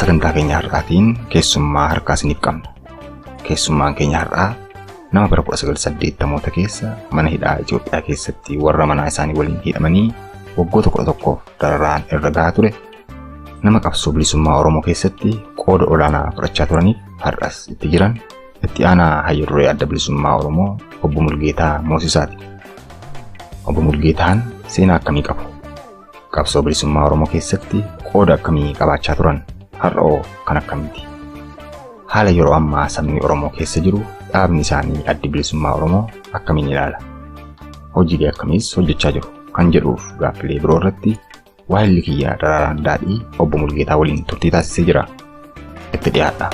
sagantaa keenya har'aatiin keessummaa harkaa isiniif qabna. Keessummaan keenya har'aa nama bara 1980moota keessa mana hidhaa Itoophiyaa keessatti warra manaa isaanii waliin hidhamanii waggoota 11f dararaan irra gahaa ture nama qabsoo bilisummaa Oromoo keessatti qooda olaanaa fudhachaa turaniif har'as itti jiran Itti aanaa hayyu duree adda bilisummaa Oromoo obbo Mulgeetaa Moosisaati. Obbo Mulgeetaan seenaa akkamii qabu? Qabsoo bilisummaa Oromoo keessatti qooda akkamii qabaachaa turan? Har'oo kan akkamiiti? Haala yeroo ammaa sabni Oromoo keessa jiru dhaabni isaanii addi bilisummaa Oromoo akkamiin ilaala? Hojiilee akkamiis hojjechaa jiru? Kan jedhuuf gaaffilee biroo irratti Waayilli kiyya Daraaraan Daadhii obbo Mulgeetaa waliin turtii taasisee jira. Itti dhiyaadha.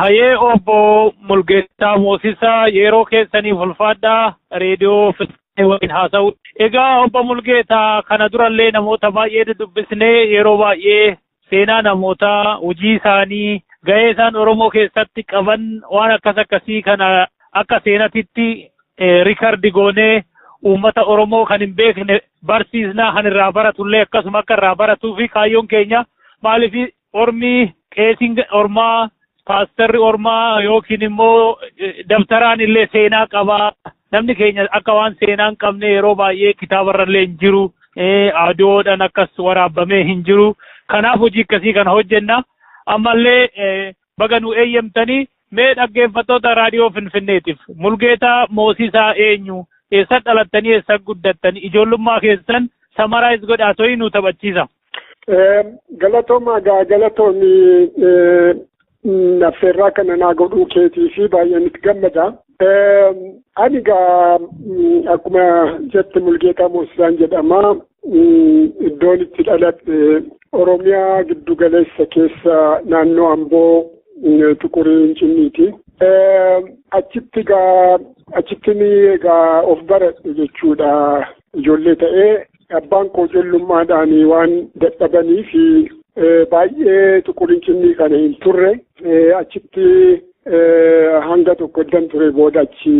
Hayee obbo Mulgeetaa Moosisaa yeroo keessaniif ulfaadhaa reediyoo waliin haasa'u. Egaa obbo Mulgeetaa kana durallee namoota baay'ee dudubbisnee yeroo baay'ee seenaa namootaa, hojii isaanii, gahee isaan Oromoo keessatti qaban waan akkas akkasii kana akka seenatitti rikardi goonee uummata Oromoo kan hin beekne barsiisnaa kan irraa baratullee akkasuma akka irraa baratuu fi kaayyoon keenya maaliif Ormi qeesiin ormaa paastarri ormaa yookiin immoo dabtaraan illee seenaa qaba. Namni keenya akka waan seenaa hin qabne yeroo baay'ee kitaabarra illee hin jiru. Adoodhaan akkas waraabamee hin jiru. Kanaaf hojii akkasii kana hojjenna. Ammallee baga nu eeyyamtanii Mee dhaggeeffattoota raadiyoo Finfinneetiif Mulgeetaa Moosiisaa eenyu? Eessa dhalattanii eessa guddattanii? Ijoollummaa keessan samaraayis godhaa to'ii nu taphachiisa. Galatoomaa gaa galatoomi affeerraa kana naa godhuu keetii fi baay'een itti gammada. Ani egaa akkuma jette Mulgeetaa Moosisaan jedhama. Iddoon itti dhaladhe Oromiyaa giddu galeessa keessa naannoo Amboo Tuqurii Incinniiti. Achitti egaa achitti egaa of baradhe jechuudha. Ijoollee ta'ee Abbaan koo jollummaadhaan waan dadhabanii fi baay'ee tuqurincinni kana hin turre achitti hanga tokko eddan ture booda achi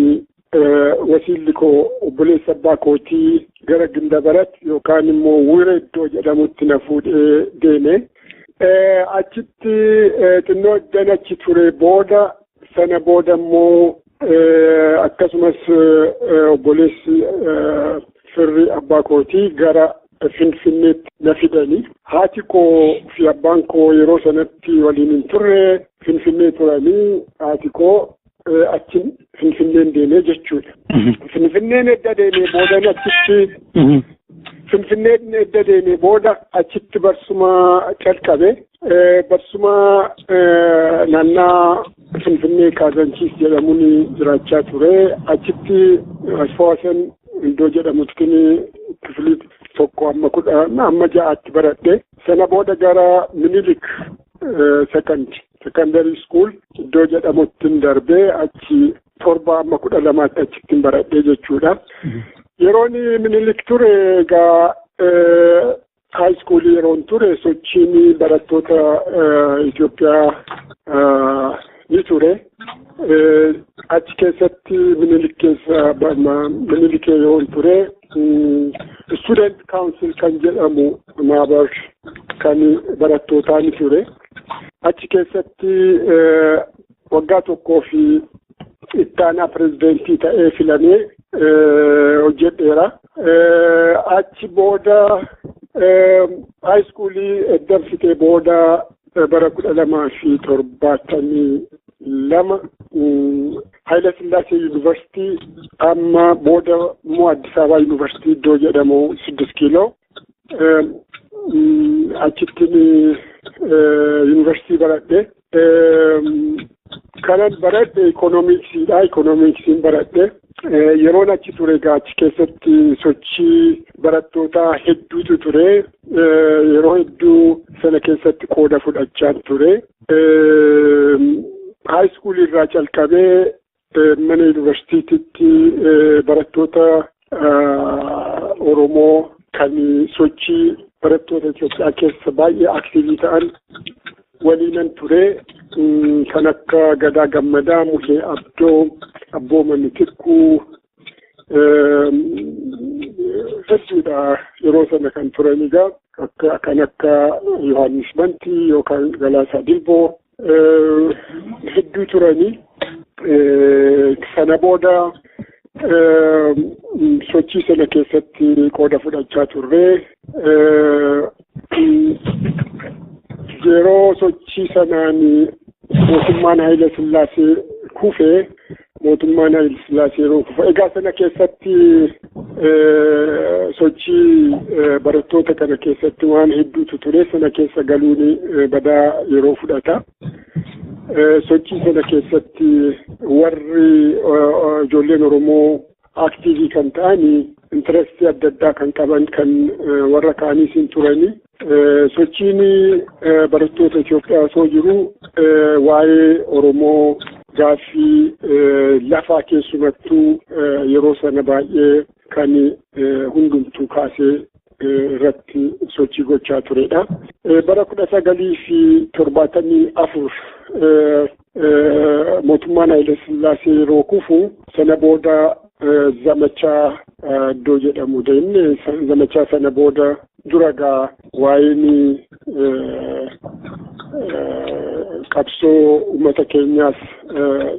wasiilli koo obboleessa abbaa kootii gara Gindabarat yookaan immoo Wire iddoo jedhamutti na fuudhee deeme. Achitti xinnoo eddan achi ture booda sana booda immoo Akkasumas obboleessi firri abbaa kootii gara Finfinneetti na fidanii haati koo fi abbaan koo yeroo sanatti waliin hin turre Finfinnee turanii haati koo achi Finfinneen deemee jechuudha. Finfinneen edda deemee booda achitti Finfinneen edda deemee booda achitti barsuma calqabe barsuma naannaa Finfinnee Kaazaanchiis jedhamuun jiraachaa ture. Achitti Asfawaasan iddoo jedhamutti kifilii tokko amma kudha amma ja'aatti baradhe. Sana booda gara Minilik sekandi sekandarii iskuul iddoo jedhamutti darbe achi torba amma kudha lamaatti achitti baradhe jechuudha. Yeroon Minilik ture egaa High school yeroon ture sochiin barattoota Itoophiyaa ni ture. Achi keessatti minilik keessa minilik yeroon ture student council kan jedhamu maabar kan barattootaa ni ture. Achi keessatti waggaa tokkoo fi ittaanaa pirezidentii ta'ee filamee hojjedheera. Achi booda haayiskuulii edda fixee booda bara kudha lamaa fi torbaatamii lama Haayila Sillaasee Yuunivarsiitii amma booda immoo Addis Ababaa Yuunivarsiitii iddoo jedhamu siddis kiiloo achittiin yuunivarsiitii baradhe Kanan baradhe ikoonomiksiidha. Ikoonomiksiin baradhe. Yeroon achi ture egaa achi keessatti sochii barattootaa hedduutu ture. Yeroo hedduu sana keessatti qooda fudhachaa ture. Haayiskuulii irraa calqabee Mana yuunivarsiitiitti barattoota Oromoo kan sochii barattoota Itoophiyaa keessa baay'ee aktiivii ta'an waliinan ture kan akka Gadaa Gammadaa, Muhee Abdoo, Abbooma Mitikkuu hedduudha yeroo sana kan turan egaa kan akka Yohaannis Bantii yookaan Galaasaa Dilboo hedduu turanii sana booda sochii sana keessatti qooda fudhachaa turre yeroo sochii sanaan mootummaan Haayila Sillaasee kufe mootummaan Hayil Sillaasee yeroo kufu egaa sana keessatti sochii barattoota kana keessatti waan hedduutu ture sana keessa galuun badaa yeroo fudhata. Sochii sana keessatti warri ijoolleen Oromoo aktiivii kan ta'anii intarastii adda addaa kan qaban kan warra kaaniis hin turanii Sochiin barattoota Itoophiyaa osoo jiru waa'ee Oromoo gaaffii lafaa keessumattuu yeroo sana baay'ee kan hundumtuu kaasee irratti sochii gochaa turedha. Bara kudha sagalii fi torbaatamii afur Mootummaan Haile Sillaasee yeroo kufu sana booda zamachaa iddoo jedhamu deemne zamachaa sana booda dura gaa waa'een qabsoo uummata keenyaas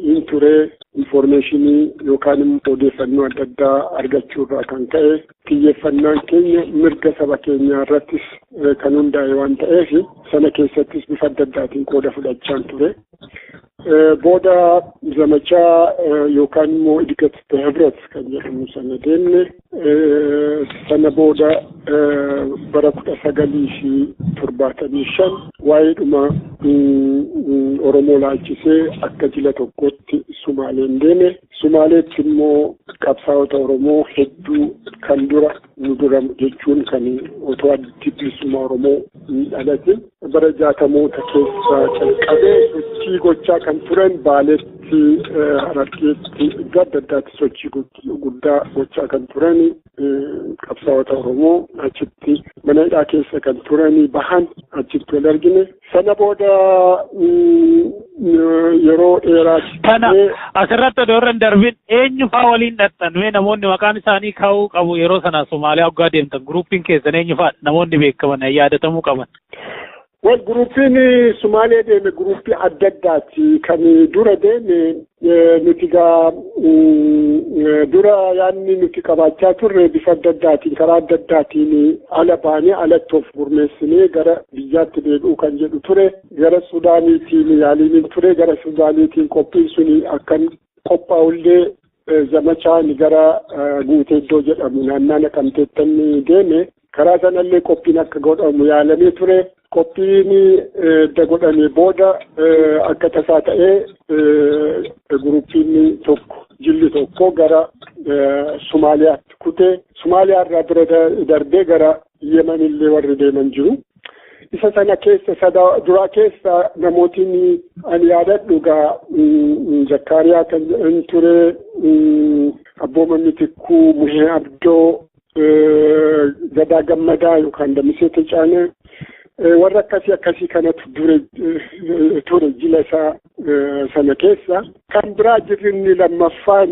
hin ture infoormeeshinii yookaan immoo odeeffannoo adda addaa argachuu irraa kan ka'e Xiyyeeffannaan keenya mirga saba keenyaa irrattis kan hundaa'e waan ta'eef sana keessattis bifa adda addaatiin qooda fudhachaan ture. Booda zamachaa yookaan immoo idikati behebret kan jedhamu sana deemne sana booda bara kudha sagalii fi torbaatamii shan waa'eedhuma Oromoo laalchisee akka jila tokkootti Sumaaleen deeme. Sumaaleetti immoo qabsaa'ota Oromoo hedduu kan dura nu dura jechuun kan otoo addi bilisummaa Oromoo hin dhalatin bara jaatamoota keessa calqabee sochii gochaa kan turan baaleetti harargeetti iddoo adda addaatti sochii guddaa gochaa kan turan qabsaa'ota Oromoo achitti mana hidhaa keessa kan turanii bahan achitti wal argine. Sana booda yeroo dheeraa. Kana asirratti odoo irra hin darbin eenyu faa waliin dhaqxan mee namoonni maqaan isaanii kaa'uu qabu yeroo sana Somaaliyaa waggaa deemtan guruupiin keessan eenyu faa namoonni beekaman yaadatamuu qaban. Wal guruupiin Sumaalee deeme guruupii adda addaati. Kan dura deeme nuti gaa dura yaadni nuti qabaachaa turre bifa adda addaatiin karaa adda addaatiin ala baanee alatti of gurmeessinee gara biyyaatti deebi'uu kan jedhu ture. Gara Sudaaniitiin yaaliin ture gara Sudaaniitiin qophiin suni akkan qophaa'ullee zamachaan gara guutee iddoo jedhamu naannaa naqamteettan deeme Karaa sanallee qophiin akka godhamu yaalamee ture. Qophiin edda godhamee booda akka tasaa ta'ee gurupiin tokko jilli tokko gara Somaaliyaatti kutee Somaaliyaa irraa bira darbee gara Yemen illee warri deeman jiru. Isa sana keessa sada duraa keessa namootiin ani yaadadhu gaa Zakkaariyaa kan ture Abbooma Mitikkuu Muhee Abdoo Gadaa Gammadaa yookaan Damisee Tecaanee warra akkasii akkasii kanatu dure ture jila isaa sana keessa. Kan biraa jirri inni lammaffaan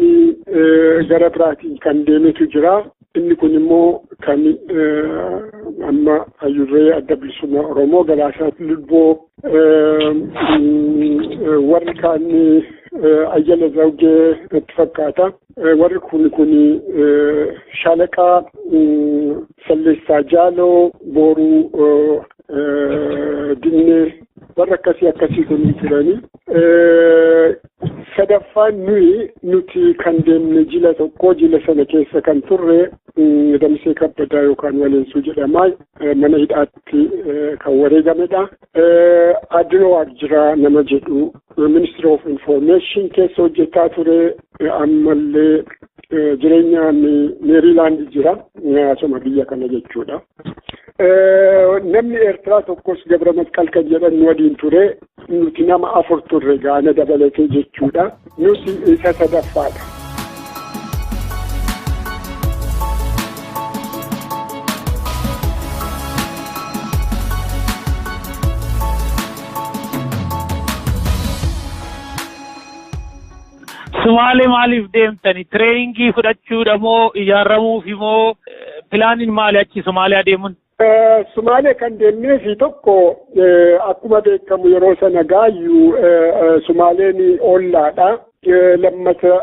gara biraatiin kan deemetu jira. Inni kun immoo kan amma hayyurree adda bilisummaa Oromoo galaasaa lubboo warri kaan ayyala zawgee natti fakkaata. warri kun kun shaalaqaa salleessaa jaaloo booruu dinnee warra akkasii akkasii kun turanii sadaffaan nuyi nuti kan deemne jila tokko jila sana keessa kan turre damsee kabbadaa yookaan waleensuu jedhama mana hidhaatti kan wareegamedha Adiloo Waaqjiraa nama jedhu ministry of information keessa hojjetaa ture ammallee jireenyaan meeriilaand jira asuma biyya kana jechuudha. Namni Eertiraa tokkos Gabra Masqal kan jedhan waliin ture nuti nama afur turre gaana dabalatee jechuudha. Nuti isa sadaffaadha. Sumaale maaliif deemtani? Tireeyingii fudhachuudha moo ijaaramuufi moo pilaaniin maali achi Sumaaliyaa deemuun? Sumaalee kan deemnee fi tokko akkuma beekamu yeroo sana gaayyu Sumaaleen ollaadha. Lammata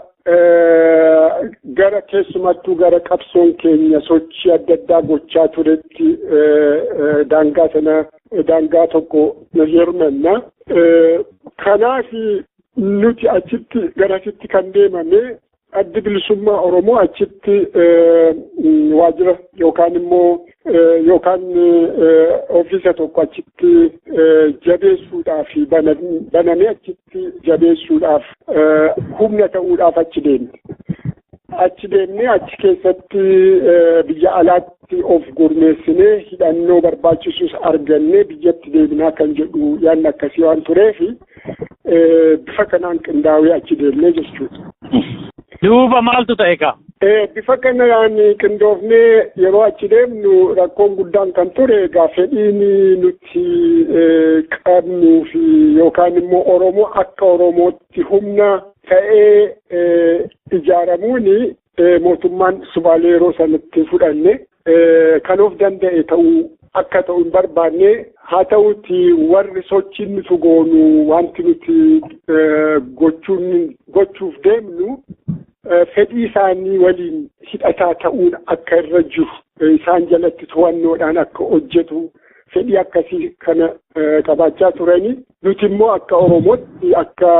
gara keessumattuu gara qabsoon keenya sochii adda addaa gochaa turetti daangaa sana daangaa tokko hirmanna. Kanaaf nuti achitti garasitti kan deemame Addi bilisummaa Oromoo achitti waajjira yookaan immoo yookaan ofiisa tokko achitti jabeessuudhaaf banamee achitti jabeessuudhaaf humna ta'uudhaaf achi deemne. Achi deemnee achi keessatti biyya alaatti of gurmeessinee hidhannoo barbaachisus argannee biyyatti deebinaa kan jedhu yaadni akkasii waan tureefi. Eh, bifa kanaan qindaawee achi deemnee jechuudha. Duuba maaltu ta'e kaa? Eh, bifa kanaan qindoofnee yeroo achi deemnu rakkoon guddaan kan ture egaa fedhiin nuti eh, qabnuu fi yookaan immoo Oromoo akka Oromootti humna ta'ee eh, ijaaramuun eh, mootummaan subaalee yeroo sanatti fudhanne kan of danda'e ta'uu akka ta'u hin barbaanne haa ta'uuti warri sochiin nuti goonu wanti nuti gochuun gochuuf deemnu fedhii isaanii waliin hidhataa ta'uun akka irra jiru isaan jalatti to'annoodhaan akka hojjetu fedhii akkasii kana qabaachaa turanii nuti immoo akka Oromootti akka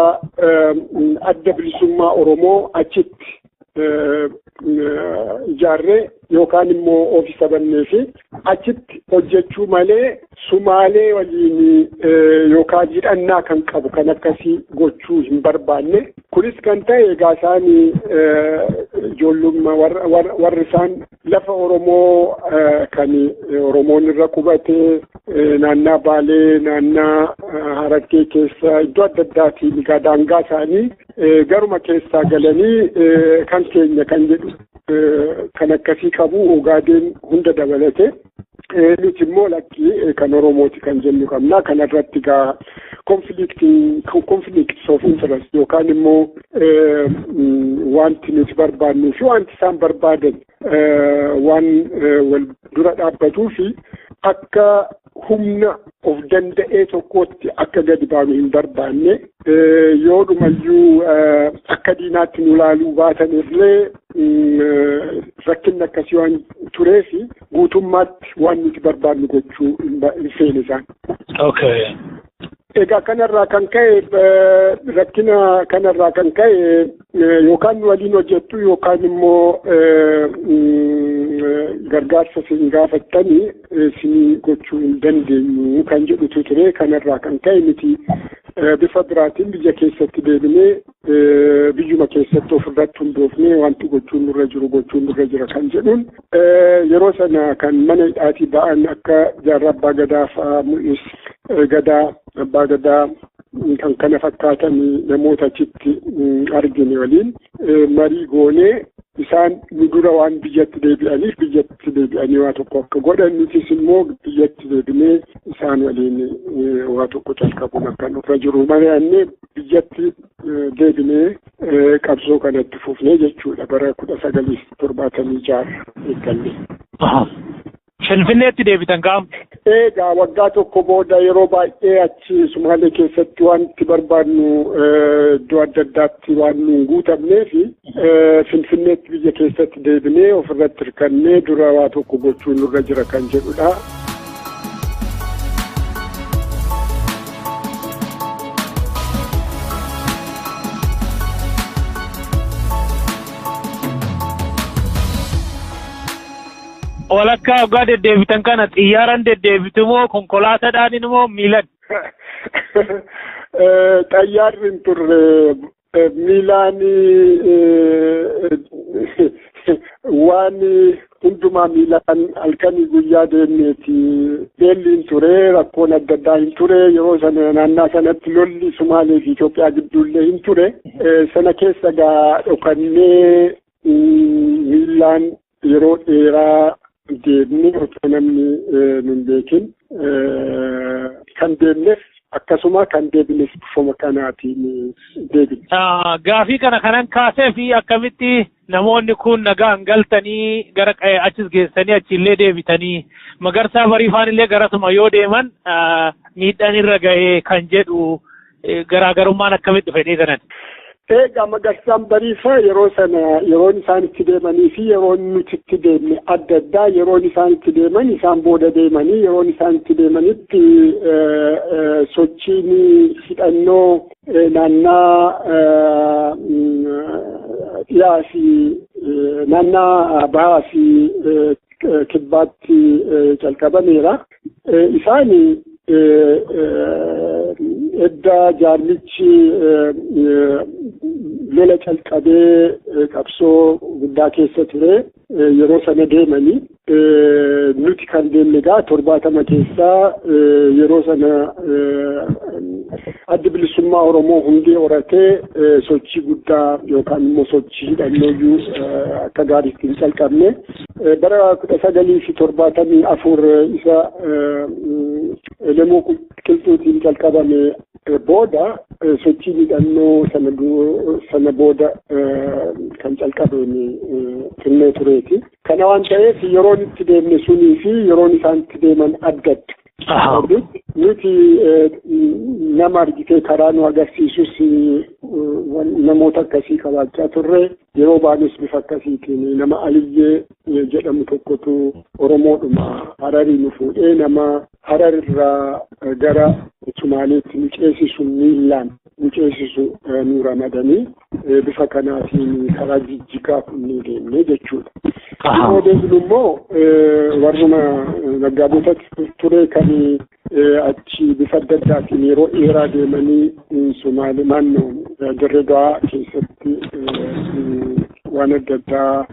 adda bilisummaa Oromoo achitti ijaarree yookaan immoo oofisa bannee fi achitti hojjechuu malee sumaalee waliin yookaan hidhannaa kan qabu kan akkasii gochuu hin barbaanne kunis kan ta'e egaa isaan ijoollummaa warri isaan Lafa Oromoo kan Oromoon irra qubatee naannaa Baalee, naannaa Harargee keessa iddoo adda addaati egaa daangaa isaanii garuma keessaa galanii kan keenya kan jedhu kan akkasii qabu Ogaadeen hunda dabalate. nuti immoo lakkii kan Oromooti kan jennu qabna. Kana irratti gaa konfiliiktis of interest yookaan immoo wanti nuti barbaannuu fi wanti isaan barbaadan waan wal dura dhaabbatuu fi akka humna of danda'ee tokkootti akka gadi baanu hin barbaanne yoo dhumayyuu akka diinaatti nu laaluu baatan illee rakkinni akkasii waan tureef guutummaatti waan nuti barbaadnu gochuu hin feene isaan. Okay. Egaa kanarraa kan ka'e rakkina kanarraa kan ka'e Yookaan nu waliin hojjettu yookaan immoo gargaarsa isin gaafattanii isin gochuu hin dandeenyu kan jedhutu ture kanarraa kan ka'e miti bifa biraatiin biyya keessatti deebinee biyyuma keessatti ofirratti hundoofnee wanti gochuun nurra jiru gochuun nurra jira kan jedhuun yeroo sana kan mana hidhaatii ba'an akka jaarraa abbaa gadaa fa'aa mul'is gadaa abbaa gadaa kan kana fakkaatan namoota achitti argine waliin marii goonee isaan nu dura waan biyyatti deebi'aniif biyyatti deebi'anii waa tokko akka godhan nutis immoo biyyatti deebinee isaan waliin waa tokko calqabuun akka nurra jiru mari'annee biyyatti deebinee qabsoo kanatti fufnee jechuudha bara kudha sagalii torbaatamii jaarra eeggalle. Finfinneetti deebitan kaam? Eegaa waggaa tokko booda yeroo baay'ee achi Sumaalee keessatti wanti barbaadnu iddoo adda addaatti waan nu hin guutamneef Finfinneetti biyya keessatti deebinee ofirratti hirkannee dura waa tokko gochuu nurra jira kan jedhudha. Walakkaa hoggaa deddeebitan kana xiyyaaran deddeebitu moo konkolaataadhaan moo miilan? Xayyaarri hin turre miilaan waan hundumaa miilaan halkanii guyyaa deemneeti beelli hin ture rakkoon adda addaa hin ture yeroo sana naannaa sanatti lolli Sumaalee fi Itoophiyaa gidduullee hin ture sana keessa gaa dhokannee miilaan yeroo dheeraa deemnee otoo namni nu hin beekin kan deemnes akkasuma kan deebines bifuma kanaatiin deebine. Gaafii kana kanan kaasee fi akkamitti namoonni kun nagaan galtanii gara achis geessanii achiillee deebitanii magarsaa bariifaan illee garasuma yoo deeman miidhaan irra ga'ee kan jedhu garaagarummaan akkamitti dhufe inni sanan? Egaa magarsaan bariisaa yeroo sana yeroon isaan itti deemanii fi yeroon nuti itti deemne adda addaa yeroon isaan itti deeman isaan booda deemanii yeroon isaan itti deemanitti sochiin hidhannoo naannaa dhiyaa fi naannaa bahaa fi kibbaatti calqabameera. Isaani edda jaarmichi lola calqabee qabsoo guddaa keessa ture yeroo sana deemanii nuti kan deemne egaa torbaatama keessaa yeroo sana addi bilisummaa Oromoo hundee horatee sochii guddaa yookaan immoo sochii hidhannooyyuu akka gaariitti hin calqabne Bara kudha sagalii fi torbaatamii afur isa Elemoo Qilxuutiin calqabame booda sochii hidhannoo sana sana booda kan calqabeen turneetureeti. Kana waan ta'eef yeroon itti deemne sunii fi yeroon isaan itti deeman addadha. Ahaa. Nuti eh, nama argitee karaa nu agarsiisus eh, wan- namoota akkasii qabaachaa turre yeroo baanis bifa akkasiitiin nama aliyyee eh, jedhamu tokkotu oromoodhuma hararii nu fuudhee nama harar irraa eh, gara sumaaleetti nu ceesisu miillaan nu ceesisu eh, nu ramadanii bifa kanaatiin karaa jijjigaa kunnii deemne jechuudha. Yoo deemnu immoo warruma naggaadota ture kan achi bifa adda addaatiin yeroo dheeraa deemanii Somaalee naannoo Dirree Dawaa keessatti waan adda addaa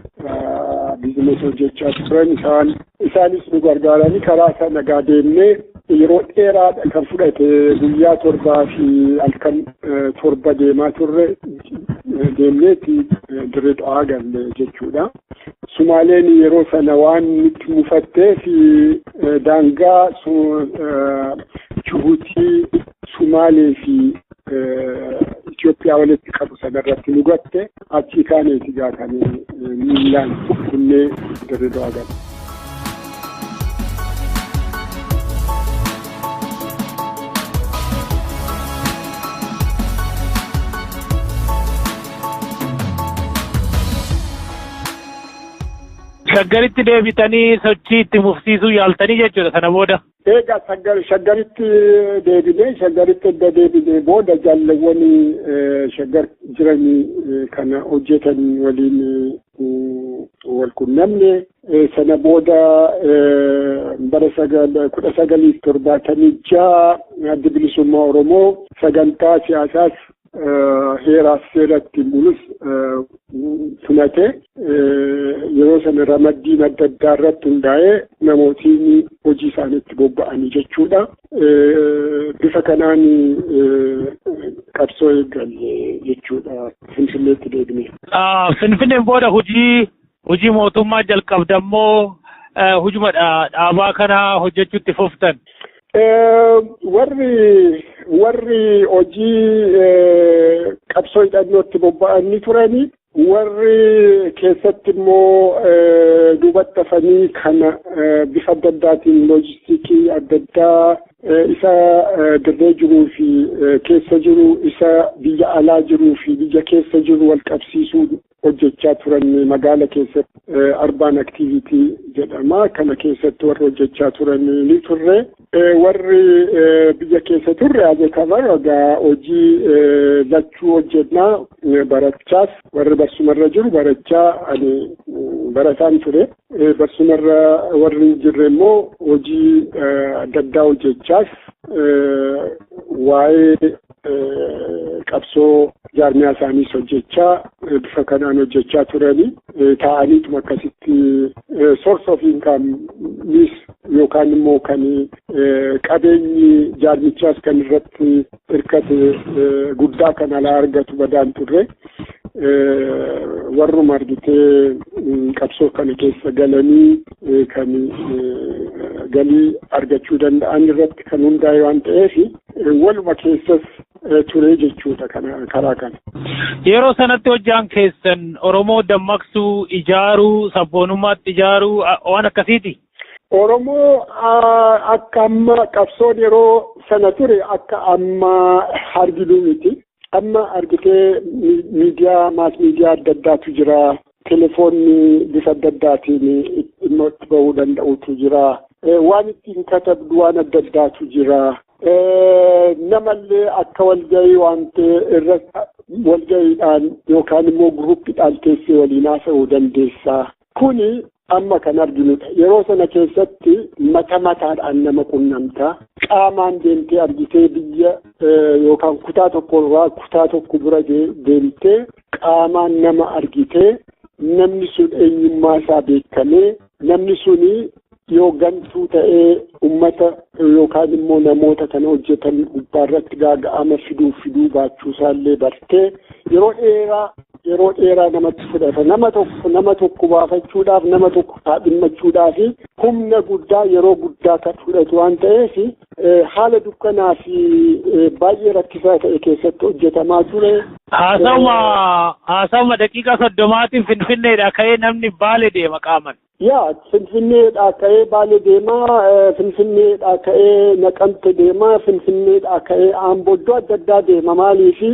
biizinasii hojjechaa turan isaan isaanis nu gargaaranii karaa sana nagaa deemnee Yeroo dheeraadha kan fudhate guyyaa torbaa fi halkan torba deemaa turre deemneeti dirree xawaa galle jechuudha. Sumaaleen yeroo sana waan nutti mufattee fi daangaa Jibuutii, Sumaalee fi Itoophiyaa walitti qabu sanarratti nu gatte. Achii kaanee itti gaafanee miilaan kunnee dirree dawaa gala. Shaggaritti deebitanii sochii itti mufsiisuu yaaltanii jechuudha sana booda. Eega Shaggar- shaggaritti deebinee shaggaritti edda deebinee booda jaalawwan eh, shaggar jiranii eh, kana hojjetan waliin eh, wal qunnamne Eh, sana booda eh, bara sagal- kudha sagalii fi torbaatamii ja'a addi bilisummaa oromoo sagantaa siyaasaas heeraa fi seera ittiin bulus tumatee yeroo sana ramaddiin adda addaa irratti hundaa'ee namootiin hojii isaaniitti bobba'anii jechuudha. Bifa kanaan qabsoo eegalle jechuudha Finfinneetti deebinee. Finfinneen booda hojii Hojii mootummaa jalqabdan moo hojuma dhaabaa kana hojjechuutti fuftan? Warri warri hojii qabsoo hidhannootti bobba'anii turanii warri keessatti immoo duubatti hafanii kana bifa adda addaatiin loojistiikii adda addaa isa dirree jiruu fi keessa jiru isa biyya alaa jiruu fi biyya keessa jiru wal qabsiisuu hojjechaa turan magaala keessatti arbaan aktiivitii jedhama kana keessatti warri hojjechaa turan ni turre warri biyya keessa turre ajetabar egaa hojii lachuu hojjennaa barachaas warri barsumarra jiru barachaa ani barataan ture barsumarra warri jirre immoo hojii adda addaa hojjechaas waa'ee qabsoo jaarmiyaa isaaniis hojjechaa bifa kanaan hojjechaa turanii taa'aniituma akkasitti source of income miis yookaan immoo kan qabeenyi jaarmichaas kan irratti hirkate guddaa kan alaa argatu badaan turre warruma argitee qabsoo kana keessa galanii kan galii argachuu danda'an irratti kan hundaa'e waan ta'eef waluma keessas ture jechuudha karaa kana. Yeroo sanatti hojjaan keessan Oromoo dammaqsuu, ijaaruu, sabboonummaatti ijaaruu waan akkasiiti? Oromoo akka amma qabsoon yeroo sana ture akka amma hargiduu miti. Amma argitee miidiyaa maas miidiyaa adda addaatu jira. Telefoonni bifa adda addaatiin dhimma itti bahuu danda'utu jira. Waan ittiin katabdu waan adda addaatu jira. Namallee akka walgahii waan ta'e irra walgahiidhaan yookaan immoo guruuppiidhaan teessee waliin haasa'uu dandeessa. Kuni amma kan arginudha. Yeroo sana keessatti mata mataadhaan nama qunnamta. Qaamaan deemtee argitee biyya yookaan kutaa tokko irraa kutaa tokko bira deemtee qaamaan nama argitee namni sun eenyummaa isaa beekamee namni suni yoo gantuu ta'ee ummata yookaan immoo namoota kana hojjetan gubbaarratti gaaga'ama fiduu fiduu baachuusaallee bartee yeroo dheeraa yeroo dheeraa namatti fudhata nama tokko nama tokko baafachuudhaaf nama tokko kaadhimmachuudhaaf humna guddaa yeroo guddaa kan fudhatu waan ta'eef haala dukkanaa fi baay'ee rakkisaa ta'e keessatti hojjetamaa ture. Haasawuma haasawuma daqiiqaa soddomaatiin finfinneedha ka'ee namni baale deema qaaman. Yaa Finfinneedhaa ka'ee Baalee deemaa, Finfinneedhaa ka'ee Naqamte deemaa, Finfinneedhaa ka'ee Aamboo iddoo adda addaa deema maaliifi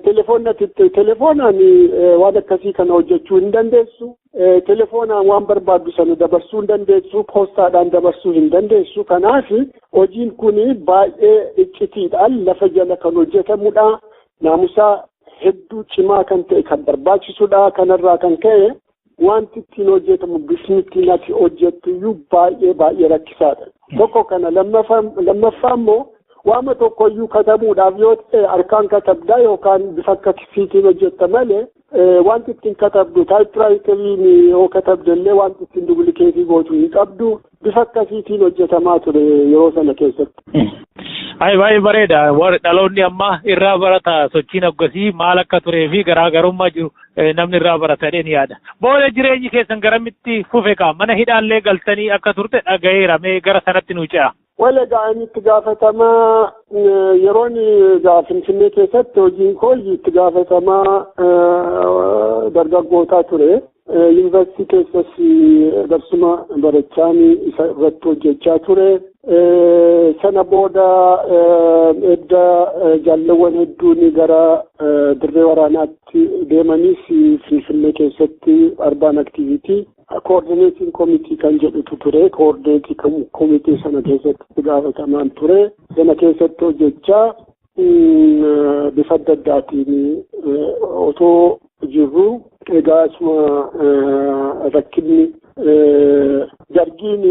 telefoonatti telefoonaan waan akkasii kana hojjechuu hin dandeessu. Telefoonaan waan barbaaddu sana dabarsuu hin dandeessu, poostaadhaan dabarsuu hin dandeessu. Kanaaf hojiin kun baay'ee iccitiidhaan lafa jala kan hojjetamudha. Naamusaa hedduu cimaa kan ta'e kan barbaachisudha. Kanarraa kan ka'e Wanti ittiin hojjetamu bifni ittiin ati hojjettu iyyuu baay'ee baay'ee rakkisaadha. Tokko kana lammaffaa immoo waama tokko iyyuu katabuudhaaf yoo ta'e harkaan katabdaa yookaan bifa akka kisiitiin hojjetta malee wanti ittiin katabdu taayipiraayitariin yoo katabde illee wanti ittiin dubilikeetii gootu hin qabdu. bifa akkasiitiin hojjetamaa ture yeroo sana keessatti. Ayi baay'ee bareeda. Warri dhaloonni ammaa irraa barata sochiin akkasii maal akka turee fi garaagarummaa jiru namni irraa baratadheen yaada. Booda jireenyi keessan garamitti fufe kaa mana hidhaallee galtanii akka turte dhagayeera mee gara sanatti nu ce'a. Wal egaa inni itti gaafatamaa yeroon egaa Finfinnee keessatti hojii koo itti gaafatamaa dargaggootaa ture. Yuunivarsiitii keessas darsuma barachaan isa irratti hojjechaa ture. Sana booda edda jaalleewwan hedduun gara dirree waraanaatti deemanis Finfinnee keessatti arbaan aktiviitii koordineetiin komitii kan jedhutu ture. Koordineetii komitii sana keessatti gaafatamaan ture. Sana keessatti hojjechaa bifa adda addaatiin otoo jirru egaa isuma rakkinni dargiin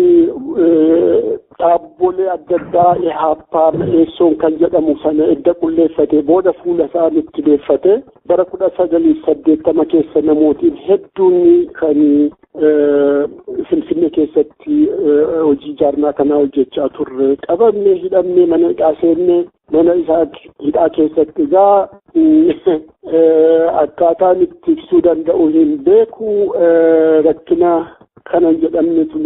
dhaabbolee adda addaa ihaappaa mi'eessoon kan jedhamu sana edda qulleeffate booda fuula isaa nutti deeffate bara kudha sagalii saddeettama keessa namootiin hedduun kan Finfinnee keessatti hojii ijaarnaa kanaa hojjechaa turre qabamne hidhamne mana hidhaa seenne mana isaa hidhaa keessatti egaa akkaataan itti ibsuu danda'u hin beeku rakkina kanan jedhamnetu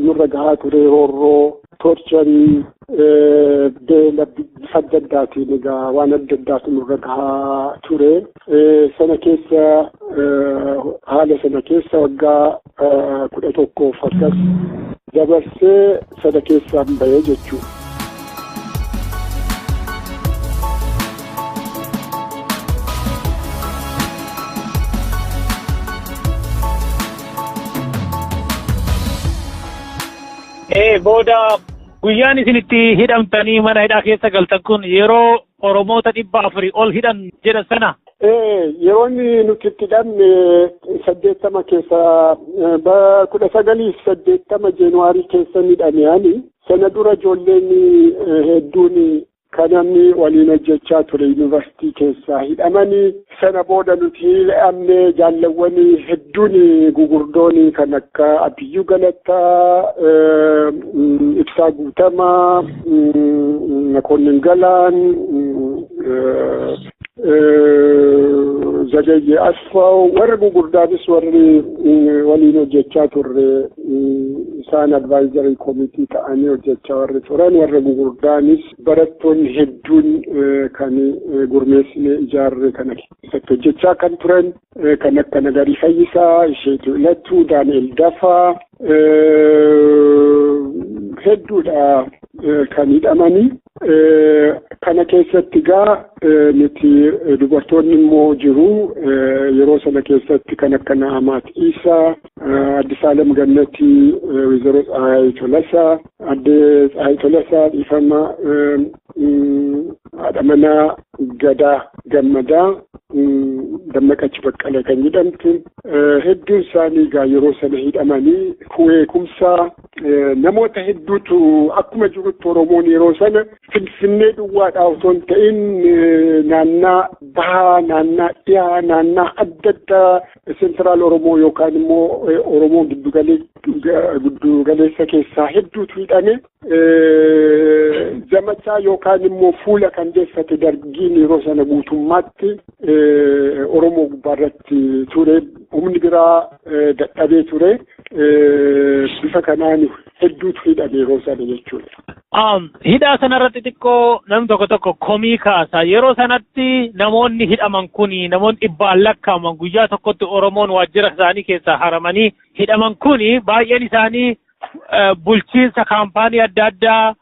nurra gahaa ture roorroo toorcharii beela bifa adda addaatiin egaa waan adda addaatu nurra gahaa ture. Sana keessa haala sana keessa waggaa kudha tokkoof akkas dabarsee sana keessaan bahee jechuudha. Ee booda guyyaan isin itti hidhamtanii mana hidhaa keessa galtan kun yeroo Oromoota dhibba afurii ol hidhan jedhan sana. Ee yeroo inni nuti itti hidhamne saddeettama keessa ba kudha sagalii saddeettama jeenuwaarii keessa hidhame ani sana dura ijoolleen hedduun Ka namni waliin hojjechaa ture yuunivarsiitii keessaa hidhamanii sana booda nuti hidhamne jaallawwan hedduun gugurdoon kan akka Abbiyyuu Galataa, Ibsaa Guutamaa, Makoonnin Galaan, Zagayye Asfaaw warri gurguddaanis warri waliin hojjechaa turre isaan advaayizarii koomitii ta'anii hojjechaa warri turan warra gurguddaanis barattoonni hedduun kan gurmeessinee ijaarre kana keessatti hojjechaa kan turan Kan akka Nagarii Fayyisaa, Isheetuu Ilatuu, Daani'el Dafaa hedduudha kan hidhamanii. Kana keessatti gaa nuti dubartoonni immoo jiru yeroo sana keessatti kan akka Na'amaat Isaa, Addisaalem Gannatii, Wizaroo Tsaayaayii Tolasaa, Adde Tsahaay Tolasaa dhiifama haadha manaa Gadaa Gammadaa Dammaqachi Baqqalee kan jedhamtu hedduun isaanii egaa yeroo sana hidhamanii kuweekumsaa namoota hedduutu akkuma jirutti Oromoon yeroo sana Finfinnee duwwaadhaa osoo hin ta'in naannaa bahaa naannaa dhiyaa naannaa adda addaa Central Oromoo yookaan immoo Oromoo giddugaleessa keessaa hedduutu hidhame. Zamachaa yookaan immoo fuula kan deeffate dargiin yeroo sana guutummaatti Oromoo gubbaarratti ture. Humni biraa dadhabee ture. Bifa kanaan hedduutu hidhame yeroo sana jechuudha. Hidhaa sanarratti xiqqoo namni tokko tokko komii kaasa. Yeroo sanatti namoonni hidhaman kuni namoonni dhibbaan lakkaa'aman guyyaa tokkotti Oromoon waajjira isaanii keessaa haramanii hidhaman kuni baay'een isaanii bulchiinsa kaampaanii adda addaa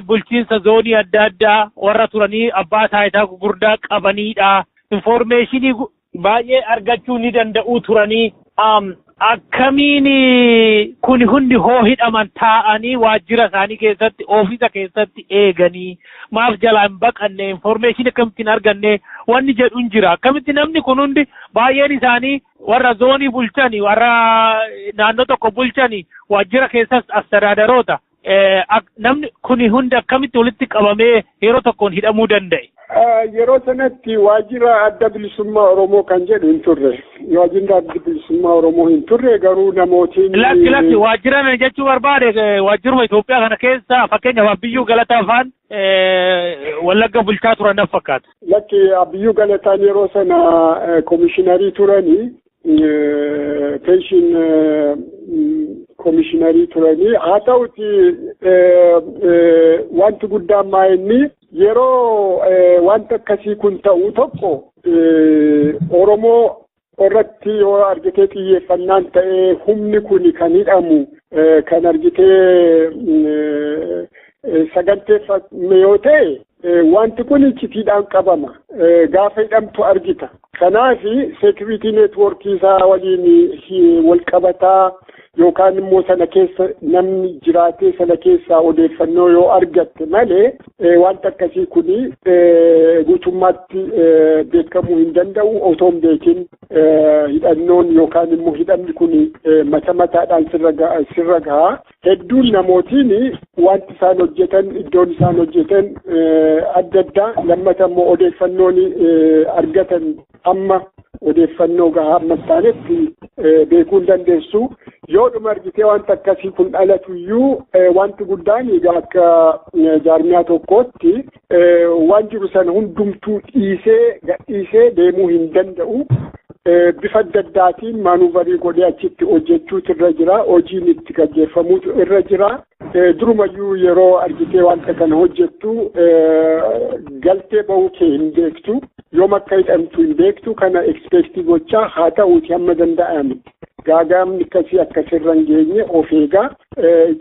bulchiinsa zoonii adda addaa warra turanii abbaa taayitaa gurguddaa qabaniidha. Infoormeeshinii baay'ee argachuu ni danda'uu turanii akkamiin kun hundi hoo hidhaman taa'anii waajjira isaanii keessatti oofisa keessatti eeganii maaf jalaa hin baqanne infoormeeshinii akkamittiin arganne wanni jedhu hin jira akkamitti namni kun hundi baay'een isaanii warra zoonii bulchani warra naannoo tokko bulchani waajjira keessas astadaadaroota Namni kuni hundi akkamitti walitti qabamee yeroo tokkoon hidhamuu danda'e? Yeroo sanatti waajjira adda bilisummaa Oromoo kan jedhu hin turre. Waajjirri adda bilisummaa Oromoo hin turre garuu namootiin. Lakki lakki waajjira ani jechuu barbaade waajjiruma Itoophiyaa kana keessa fakkeenyaaf Abbiyyuu Galataa faan Wallagga bulchaa turan naf fakkaata. Lakki Abbiyyuu Galataan yeroo sana komishinarii turanii Pension komishiinarii turanii haa ta'uti wanti guddaan maa inni yeroo wanti akkasii kun ta'u tokko Oromoo irratti yoo argitee xiyyeeffannaan ta'ee humni kun kan hidhamu kan argitee saganteeffame yoo ta'e Wanti kun iccitiidhaan qabama. Gaafa hidhamtu argita. Kanaaf seekiriitii neetwoorkii isaa waliin wal qabataa yookaan immoo sana keessa namni jiraatee sana keessaa odeeffannoo yoo argatte malee wanta akkasii kun guutummaatti beekamuu hin danda'u otoo hin beekin hidhannoon yookaan immoo hidhamni kun mata mataadhaan sirra gahaa Hedduun namootiin wanti isaan hojjetan iddoon isaan hojjetan adda addaa lammata immoo odeeffannoon argatan amma odeeffannoo gahaa amma taanetti beekuu hin dandeessu. Yoodhuma argitee wanta akkasii kun dhalatu iyyuu wanti guddaan egaa akka jaarmiyaa tokkootti waan jiru sana hundumtuu dhiisee gadhiisee deemuu hin danda'u. Bifa adda addaatiin maanuuvarii godhee achitti hojjechuutu irra jira. Hojiin itti gaggeeffamuutu irra jira. Durumayyuu yeroo argitee wanta kana hojjettu galtee bahuu kee hin beektu. Yoom akka hidhamtu hin beektu kana ekspeektii gochaa haa ta'uuti hamma danda'ame. Gaagaamni akkasii akka sirra hin geenye of eegaa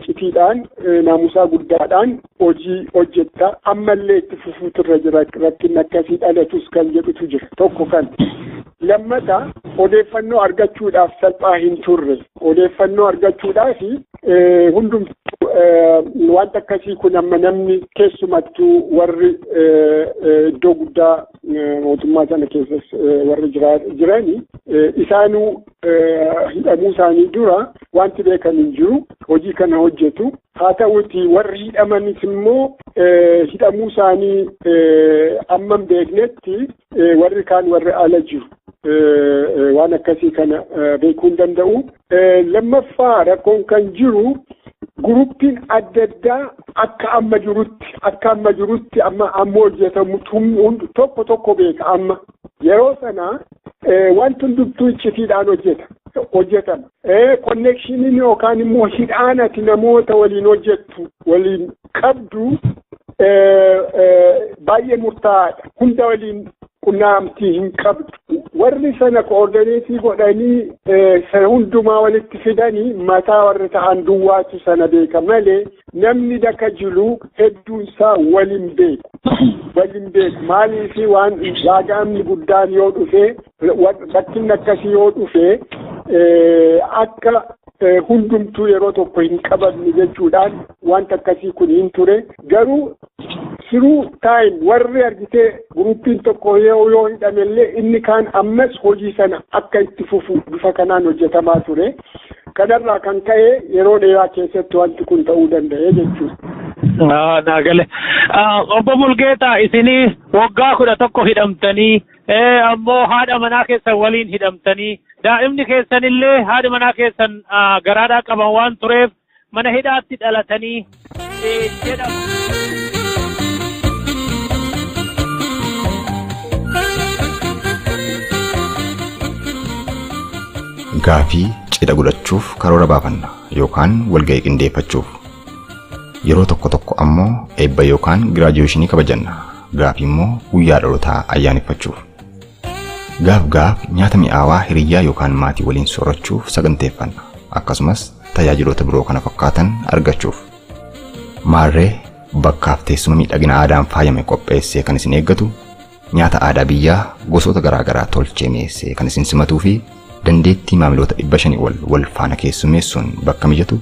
citiidhaan naamusaa guddaadhaan hojii hojjetta ammallee itti fufuutu irra jira rakkinni akkasii dhalatus kan jedhutu jira tokko kan lammata odeeffannoo argachuudhaaf salphaa hin turre odeeffannoo argachuudhaaf hundumtuu wanta akkasii kun amma namni keessumattuu warri iddoo guddaa mootummaa sana keessas warri jirani isaanuu hidhamuu isaanii dura wanti beekan hin jiru hojii kana hojjetu Haa ta'uutii warri hidhamanis immoo hidhamuu isaanii amma hin beeknetti warri kaan warri ala jiru. Waan akkasii kana beekuu hin danda'u. Lammaffaa rakkoon kan jiru guruppiin adda addaa akka amma jirutti akka amma jirutti amma amma hojjetamu tokko tokko beeka amma yeroo sana wanti hundumtuu iccitiidhaan hojjeta hojjetama. Ee konneekshiniin yookaan immoo hidhaan ati namoota waliin hojjettu waliin qabdu baay'ee murtaa'aadha. Hunda waliin qunnamtii hin qabdu. Warri sana koordineetii godhanii sana hundumaa walitti fidanii mataa warri ta'an duwwaatu sana beeka malee namni daka jilu hedduunsaa waliin beeku. Waliin beeku maaliif waan gaaga'amni guddaan yoo dhufe Rakkinni akkasii yoo dhufe akka hundumtuu yeroo tokko hin qabamne jechuudhaan wanta akkasii kun hin ture garuu siruu taayim warri argitee guruppiin tokko yoo yoo hidhamellee inni kaan ammas hojii sana akka itti fufu bifa kanaan hojjetamaa ture kanarraa kan ka'e yeroo dheeraa keessatti wanti kun ta'uu danda'e jechuudha. Naagale. Obbo Mulgeetaa isinii waggaa kudha tokko hidhamtanii Ee ammoo haadha manaa keessan waliin hidhamtanii daa'imni keessan illee haadha manaa keessan garaadhaa qaban waan tureef mana hidhaatti dhalatanii jedhama. Gaafii cidha godhachuuf karoora baafanna yookaan walga'ii qindeeffachuuf. Yeroo tokko tokko ammoo eebba yookaan giraajuweeshinii kabajanna. Gaafii immoo guyyaa dhalotaa ayyaaneffachuuf. Gaaf gaaf nyaata mi'aawaa hiriyyaa yookaan maatii waliin soorachuuf saganteeffanna, akkasumas tajaajiloota biroo kana fakkaatan argachuuf. Maarree, bakkaaf teessuma miidhagina aadaan faayame qopheessee kan isin eeggatu, nyaata aadaa biyyaa gosoota garaa garaa tolchee mi'eessee kan isin simatuu fi dandeettii maamiloota 500 ol wal faana keessummeessuun bakka mijatu,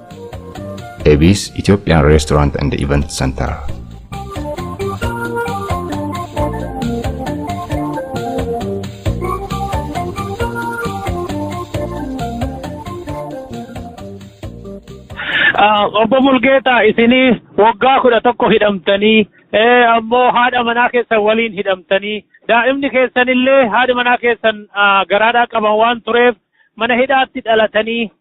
Ebis Ethiopian Restaurant and Event Center. Obbo Mulgeetaa isinii waggaa kudha tokko hidhamtanii ammoo haadha manaa keessan waliin hidhamtanii daa'imni keessanillee haadha manaa keessan garaadhaa qaban waan tureef mana hidhaatti dhalatanii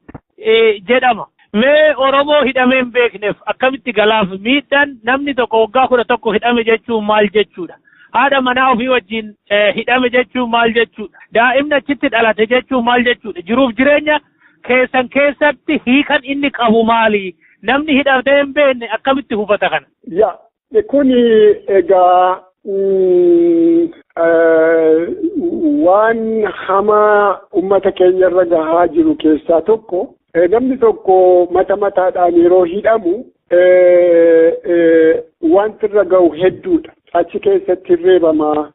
jedhama. Mee Oromoo hidhamee hin beekneef akkamitti galaaf miidhan namni tokko waggaa kudha tokko hidhame jechuun maal jechuudha? Haadha manaa ofii wajjin hidhame jechuun maal jechuudha? Daa'imni achitti dhalate jechuun maal jechuudha? Jiruuf jireenya keessan keessatti hiikan inni qabu maali? Namni hidhamee hin beekne akkamitti hubata kana? Yaa Kuni egaa waan hamaa ummata keenya irra gahaa jiru keessaa tokko namni tokko mata mataadhaan yeroo hidhamu wanti irra gahu hedduudha. Achi keessatti reebama,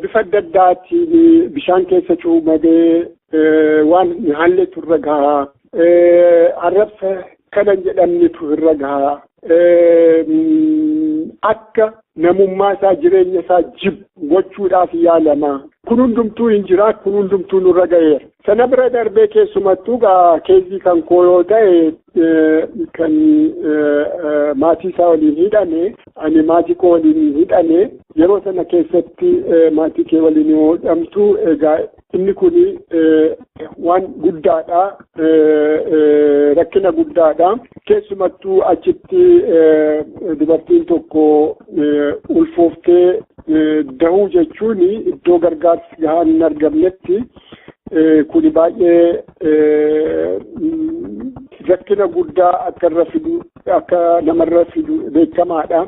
Bifa adda addaatiin bishaan keessa cuumadee waan hin haalletu irra gaha. Arrabsa kana hin jedhamnetu irra gaha. Akka namummaa isaa jireenya isaa jibbu gochuudhaaf yaalama. Kun hundumtuu hin jira kun hundumtuu nurra gaheera. Sana bira darbee keessumattuu gaa keessi kan koo yoo ta'e kan maatii isaa waliin hidhame ani maatii koo waliin hidhame yeroo sana keessatti maatii kee waliin yoo hidhamtu egaa inni kun waan guddaadha rakkina guddaadha keessumattuu achitti dubartiin tokko ulfooftee dahuu jechuun iddoo gargaarsi gahaan hin argamnetti kuni baay'ee rakkina guddaa akka irra fidu akka namarra fidu beekamaadha.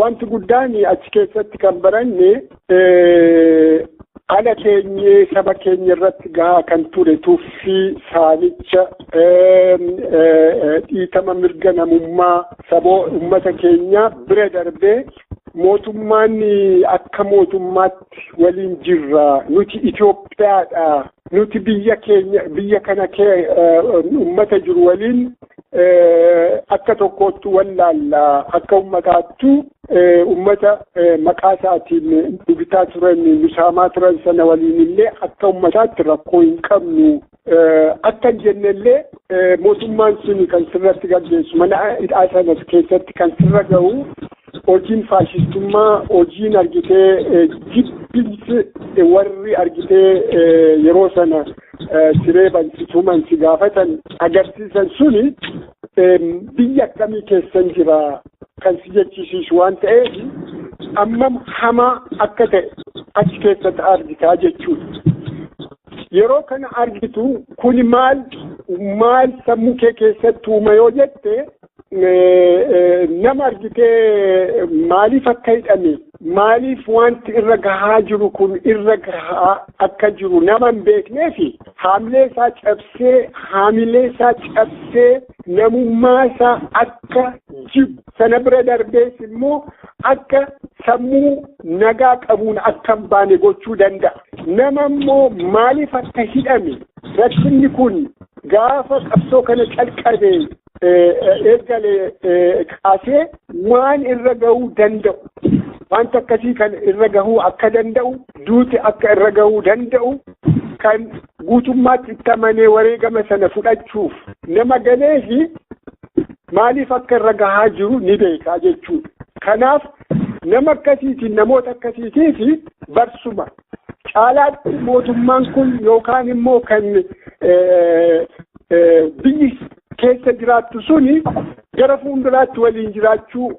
Wanti guddaan achi keessatti kan baranne ala keenyee saba keenya irratti gahaa kan ture tuffii saamicha dhiitama mirga namummaa saboo ummata keenya bira darbee Mootummaan akka mootummaatti waliin jirra. Nuti Itoophiyaadha. Nuti biyya keenya biyya kana uummata jiru waliin akka tokkootti wallaalla. Akka uummataattu uummata maqaa isaatiin bibitaa turan, misaamaa turan sana waliin illee akka uummataatti rakkoo hin qabnu. Akkan jennellee mootummaan sun kan sirratti gaggeessu mana hidhaa sana keessatti kan sirra ga'u hojiin faashistummaa hojiin argitee jibbinsi warri argitee yeroo sana siree bansituman si gaafatan agarsiisan suni biyya akkamii keessan jira kan si jechisiisu waan ta'eef ammam hamaa akka ta'e achi keessatti argitaa jechuudha. Yeroo kana argitu kuni maal maal sammuu kee keessatti uuma yoo jette nama argitee maaliif akka hidhame maaliif wanti irra gahaa jiru kun irra gahaa akka jiru nama hin beeknee fi haamilee isaa cabsee haamilee isaa cabsee namummaa isaa akka jibbu sana bira darbees immoo akka sammuu nagaa qabuun akka hin baane gochuu danda'a. Nama immoo maaliif akka hidhame rakkinni kun gaafa qabsoo kana calqabe eegale kaasee waan irra gahuu danda'u wanta akkasii kan irra gahuu akka danda'u duuti akka irra gahuu danda'u kan guutummaatti itti amanee wareegama sana fudhachuuf nama galeefi maaliif akka irra gahaa jiru ni beekaa jechuudha. Kanaaf Nama akkasiitiin namoota akkasiitii fi barsuma caalaatti mootummaan kun yookaan immoo kan biyyi keessa jiraattu suni gara fuulduraatti waliin jiraachuu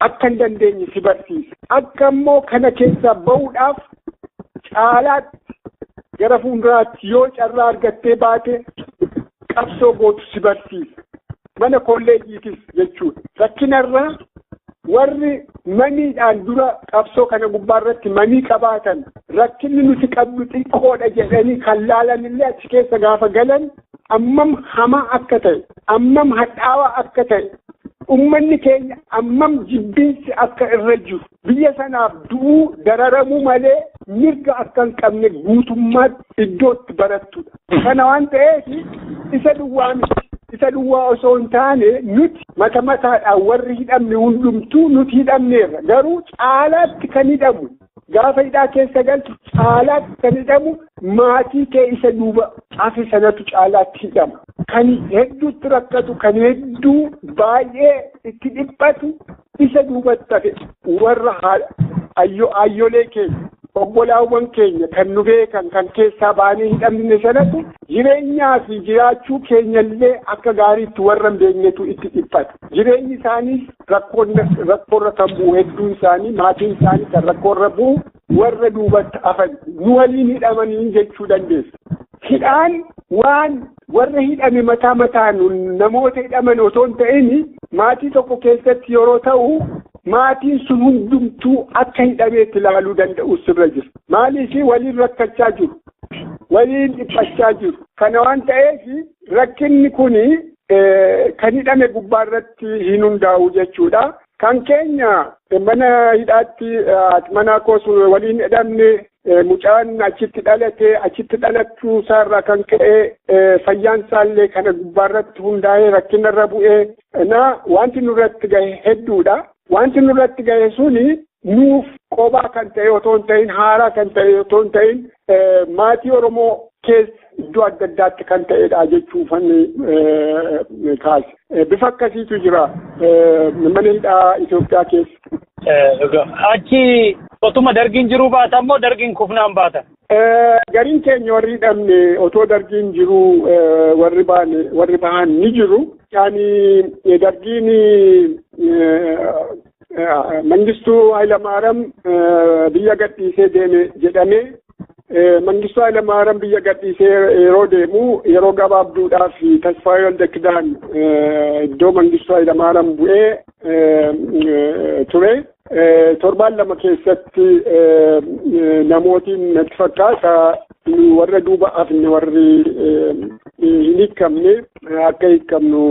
akka hin dandeenye si barsiisa. Akka immoo kana keessaa ba'uudhaaf caalaatti gara fuulduraatti yoo carraa argattee baate qabsoo gootu si barsiisa. mana kolleejiitis jechuudha. Rakkinarraa warri maniidhaan dura qabsoo kana gubbaa irratti manii qabaatan rakkinni nuti qabdu xiqqoodha jedhanii kan laalan illee achi keessa gaafa galan ammam hamaa akka ta'e ammam hadhaawaa akka ta'e ummanni keenya ammam jibbiinsi akka irra jiru biyya sanaaf du'uu dararamuu malee mirga akka hin qabne guutummaatti iddootti barattudha. Kana waan ta'eef isa duwwaa miti. Isa duwwaa osoo hin taane nuti mata mataadhaan warri hidhamne hundumtuu nuti hidhamneerra. Garuu caalaatti kan hidhamu gaafa hidhaa keessa galtu caalaatti kan hidhamu maatii kee isa duuba hafe sanatu caalaatti hidhama. Kan hedduutti rakkatu, kan hedduu baay'ee itti dhiphatu isa duubatti hafe warra aayyolee keenya obbolaawwan keenya kan nu beekan kan keessaa baanee hin dhabne sanatti jireenyaa fi jiraachuu keenyallee akka gaariitti warra hin beeknetu itti dhiphata. Jireenyi isaaniis rakkoorra kan bu'u hedduun isaanii maatiin isaanii kan rakkoorra bu'u warra duubatti hafan nu waliin hidhamanii jechuu dandeessa. Hidhaan waan warra hidhame mataa mataan namoota hidhaman otoo hin ta'in maatii tokko keessatti yeroo ta'u maatiin sun hundumtuu akka hidhameetti ilaaluu danda'u sirra jira. Maaliif waliin rakkachaa jiru? Waliin dhiphachaa jiru. Kana waan ta'eef rakkinni kun kan hidhame gubbaa irratti hin hundaa'u jechuudha. Kan keenya mana hidhaatti haati manaa koos waliin hidhamne mucaan achitti dhalate achitti dhalachuu isaarraa kan ka'e fayyaan isaallee kana gubbaarratti hundaa'ee rakkinarra bu'ee na wanti nurratti gahe hedduudha. Wanti nurratti gahe suni nuuf qobaa kan ta'e otoo hin ta'in haaraa kan ta'e otoo hin ta'in maatii Oromoo keessa iddoo adda addaatti kan ta'edha jechuu fanni kaase. Bifa akkasiitu jira mana hidhaa Itoophiyaa keessa. Achi otuma dargiin jiruu baata immoo dargiin kufnaan baata. Gariin keenya warri hidhamne otoo dargiin jiru warri baane warri bahan ni jiru. Yaani dargiin Mangistuu Hayilamaariyaam biyya gadhiisee deeme jedhamee Mangistuu Hayilamaariyaam biyya gadhiisee yeroo deemu yeroo gabaabduudhaaf Tasfaayee Waldakidaan iddoo Mangistuu Hayilamaariyaam bu'ee ture. Torbaan lama keessatti namootiin natti fakkaata warra duuba hafne warri hin hiikamne akka hiikamnu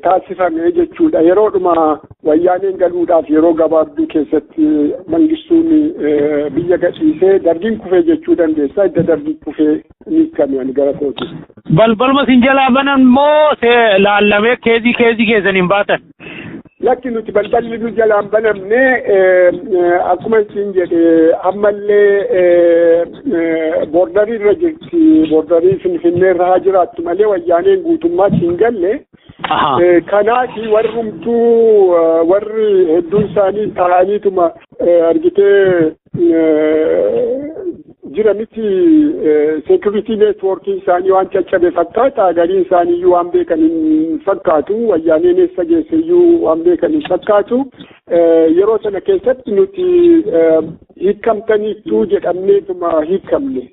taasifame jechuudha. Yeroodhuma wayyaaneen galuudhaaf yeroo gabaabduu keessatti mangistuun biyya gadhiisee dargiin kufee jechuu dandeessa. Idda dargii kufee ni hiikame ani gara kooti. Balbaluma isin jalaa banan moo laallamee keezii keezii keessaniin baatan? Lakki nuti balballi nu jalaan banamne akkuma isin jedhe ammallee boordarii irra jirti boordarii finfinnee irra haa jiraattu malee wayyaaneen guutummaatti hin galle. Kanaaf warrumtuu warri hedduun isaanii ta'aniituma argitee jira miti security network isaanii waan caccabe fakkaata gariin isaanii iyyuu waan beekan hin fakkaatu wayyaaneen eessa geesse iyyuu waan beekan hin fakkaatu yeroo sana keessatti nuti hiikamtaniittuu jedhamneetuma hiikamne.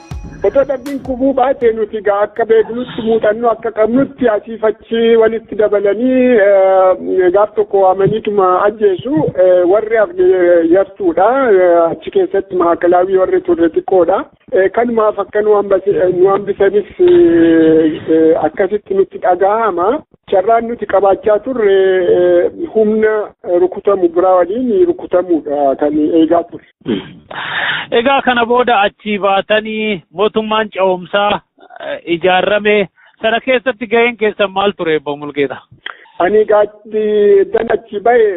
Otoo dargiin kufuu baate nuti gaa akka beeknutti muuxannoo akka qabnutti asiif achi walitti dabalanii gaaf tokko waamaniituma ajjeesu warri hafne yartuudha achi keessatti maakalaawii warri turre xiqqoodha. Kanumaaf akka nu hambisanis akkasitti nutti dhaga'ama. Carraan nuti qabaachaa turre humna rukutamu biraa waliin rukutamuudha kan eegaa turre. Egaa kana booda achii baatanii mootummaan ce'umsaa eh, ijaarame sana keessatti gaheen keessan maal ture Obbo Mulgeetaa? Ani gaaddi dan achi ba'e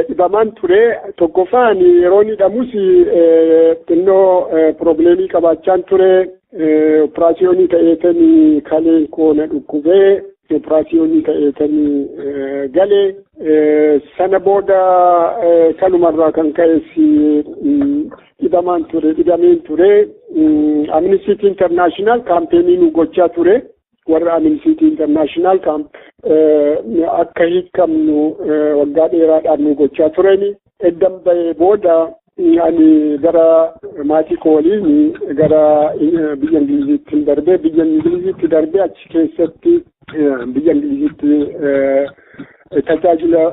dhibamaan ture tokkoffaa ani yeroon hidhamus eh, xinnoo eh, piroobileemii qabaachaan ture eh, operaasiyoonii ta'eetan kaleen koo na dhukkubee Operaasiyoonii ta'eetan gale sana booda kanumarraa kan ka'es dhibamaan ture dhibameen ture Amnesty International kaampeenii nu gochaa ture warra Amnesty International akka hiikamnu waggaa dheeraadhaan nu gochaa tureni Eddan bahee booda ani gara maatii koo waliin gara biyya Ingiliziitti darbee biyya Ingiliziitti darbee achi keessatti biyya Ingiliziitti tajaajila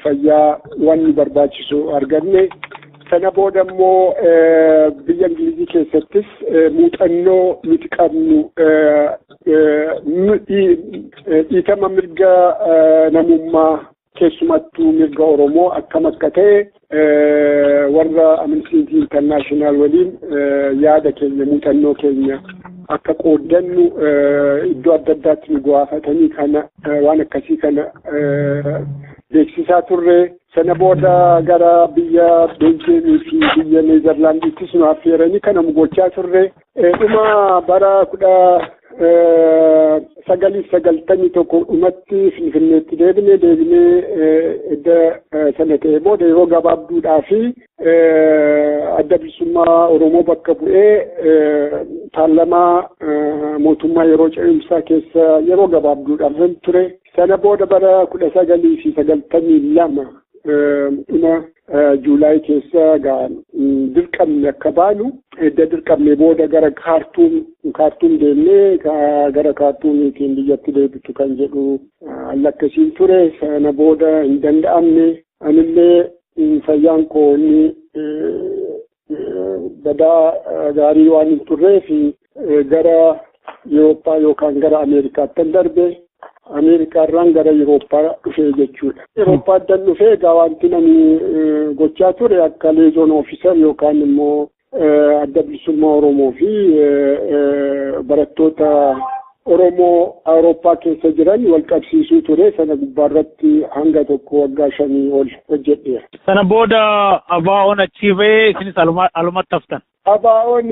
fayyaa waan nu barbaachisu arganne. Sana booda immoo biyya Ingilizii keessattis muuxannoo nuti qabnu dhiitama mirga namummaa Keessumattuu mirga Oromoo akkam akka ta'e warra Amnesty International waliin yaada keenya muuxannoo keenya akka qooddannu iddoo adda addaatti nu gaafatanii kana waan akkasii kana beeksisaa turre. Sana booda gara biyya Beeljeemii fi biyya Neezerlaandiittis nu affeeranii kana gochaa turre. Dhuma bara kudha sagaliif sagaltamii tokko dhumatti Finfinneetti deebine deebinee edda sana ta'e booda yeroo gabaabduudhaa fi adda bilisummaa Oromoo bakka bu'ee paarlamaa mootummaa yeroo ce'umsaa keessa yeroo gabaabduudhaaf ture. Sana booda bara kudha sagalii fi sagaltamii lama dhuma juulaay keessa dirqamne akka baanu edda dirqamne booda gara kaartuum kaartuum deemnee gara kaartuumiitiin biyyatti deebitu kan jedhu lakkasiin ture sana booda hin danda'amne anillee fayyaan koo inni badaa gaarii waan hin turree fi gara Yurooppaa yookaan gara Ameerikaattan darbe Ameerikaarraan gara Yurooppaa dhufee jechuudha. Yurooppaadan dhufee egaa wanti nani gochaa ture akka leezoon ofiisar yookaan immoo adda bilisummaa Oromoo fi barattoota Oromoo Awurooppaa keessa jiran wal qabsiisuu ture sana gubbaarratti hanga tokko waggaa shanii ol hojjedheera. Sana booda ABOn achii ba'ee isinis alumatti haftan. ABOn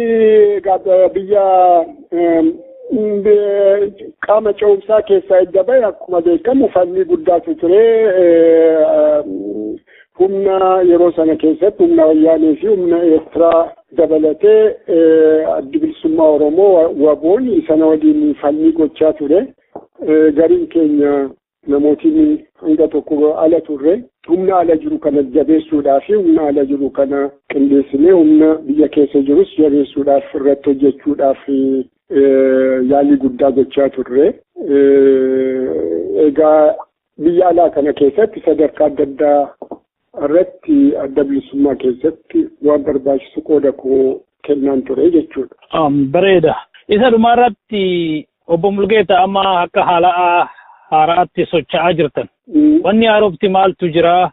biyya qaama ce'umsaa keessaa edda ba'e akkuma beekamu falmii guddaatu ture. humna yeroo sana keessatti humna wayyaanee fi humna eertiraa dabalatee addi bilisummaa oromoo waboon sana waliin falmii gochaa ture gariin keenya namootiin hanga tokko ala turre humna ala jiru kana jabeessuudhaaf fi humna ala jiru kana qindeessinee humna biyya keessa jirus jabeessuudhaaf irratti hojjechuudhaaf yaalii guddaa gochaa turre egaa Biyya alaa kana keessatti sadarkaa adda addaa irratti adda bilisummaa keessatti waan barbaachisu qooda koo kennaan ture jechuudha. Bareeda. Isa dhumaarratti obbo Mulgeeta amma akka haala haaraatti socho'aa jirtan. Wanni haarofti maaltu jira?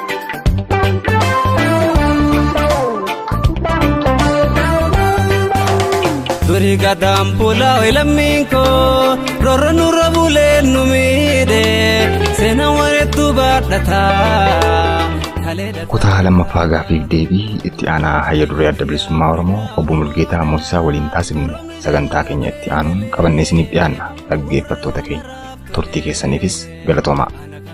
Durii gadaan bulaa lammiin koo rorra nurra bulee nu miidhe seena wareetu baadhata. Kutaa lammaffaa gaaffiif deebii itti aanaa hayya duree adda bilisummaa Oromoo obbo Mulgeetaa Moosisaa waliin taasifne sagantaa keenya itti aanuun qabannee isiniif dhiyaanna dhaggeeffattoota keenya turtii keessaniifis galatoomaa.